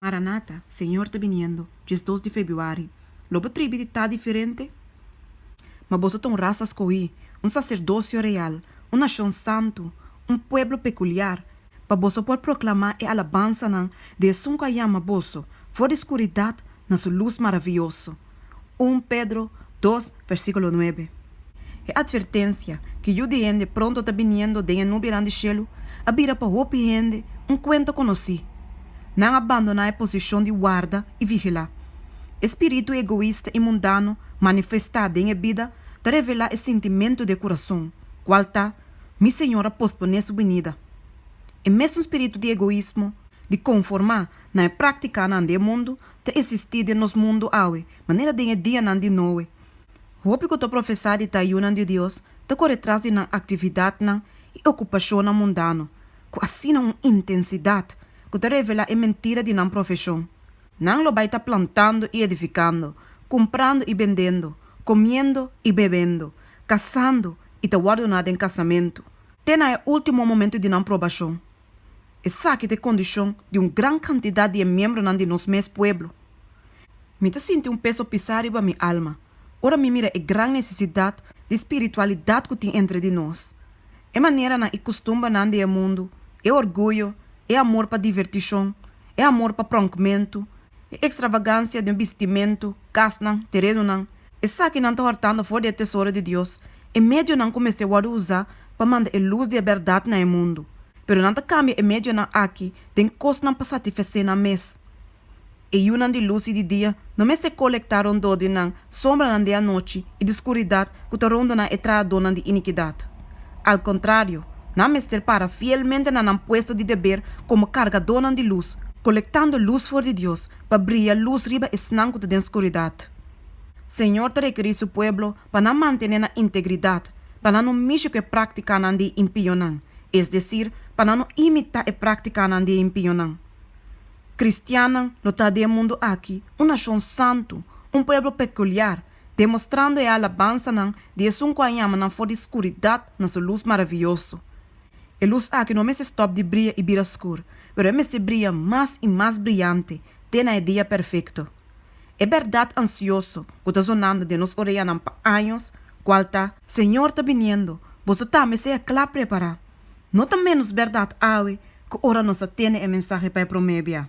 Maranata, Señor ta biniendo, diesdos di febuari. Lo bo tribi di ta diferente? Ma boso ta un rasa scohí, un sacerdocio real, un nacion santu, un pueblo peculiar, pa boso por proclamá e alabansanan di Esun cu a yama boso for di scuridad na su luz maraviyoso. Un Pedro dos versikulo nuebe. E atvertensia ku Yu di hende pronto ta biniendo den e nubianan di shelu a bira pa hopi hende un kuenta konosí. Nan a bandoná e posishon di warda i vigilá. E spiritu egoista i mundano manifestá den e bida ta revelá e sintimentu di e kurason, kual ta, Mi Señor a posponé su binida. E mesun spiritu di egoismo, di konformá na e práktikanan di e mundu ta esistí den nos mundu awe, manera den e dianan di Noe. Hopi ku ta profesá di tayunan di Dios ta kore tras di nan aktividatnan i okupashonnan mundano ku asina un intensidat ku ta revelá e mentira di nan profeshon. Nan lo bai ta plantando i edifikando, kumprando i bendendo, komiendo i bebendo, kasando i ta wòrdu na den kasamentu, te na e último momentu di nan probashon. Esaki ta e kondishon di un gran kantidat di e miembronan di nos mes pueblo. Mi ta sinti un peso pisá riba mi alma ora mi mira e gran nesesidat di spiritualidat ku tin entre di nos, e maneranan i kustumbernan di e mundu, e orguyo, e amor pa divertishon, e amor pa pronkmentu, e ekstravagansia den bistimentu, kasnan, terenunan, Esakinan ta hòrtando for di e tesoro di Dios, e medionan ku mester wòrdu usá pa manda e lus di e bèrdat na e mundu. Pero nan ta kambia e medionan akí den kosnan pa satifesé nan mes. E yunan di lus i di dia no mester kolektá rondó di nan, sombranan di anochi i di skuridat ku ta rondo nan e trahadónan di inikidat. Al kontrario, nan mester para fielmente na nan puesto di deber komo kargadónan di lus, kolektando lus for di Dios pa bria lus riba esnan ku ta den skuridat. Señor ta rekerí Su pueblo pa nan mantené nan integridad, pa nan no mishi ku e práktikanan di e impionan, es desir, pa nan no imitá e práktikanan di e impionan. Kristiannan lo ta den e mundu aki un nashon santu, un pueblo pekuliar, demostrando e alabansanan di Esun ku a yama nan for di skuridat na Su lus maravioso. E lus aki no a mester stòp di bria i bira skur, pero e mester bria mas i mas briante te na e dia perfekto. E bèrdat ansioso ku ta sonando den nos oreanan pa años, kual ta, Señor ta biniendo, boso ta mester kla prepará, no ta ménos bèrdat awe ku ora nos a tene e mensahe pa e promé bia.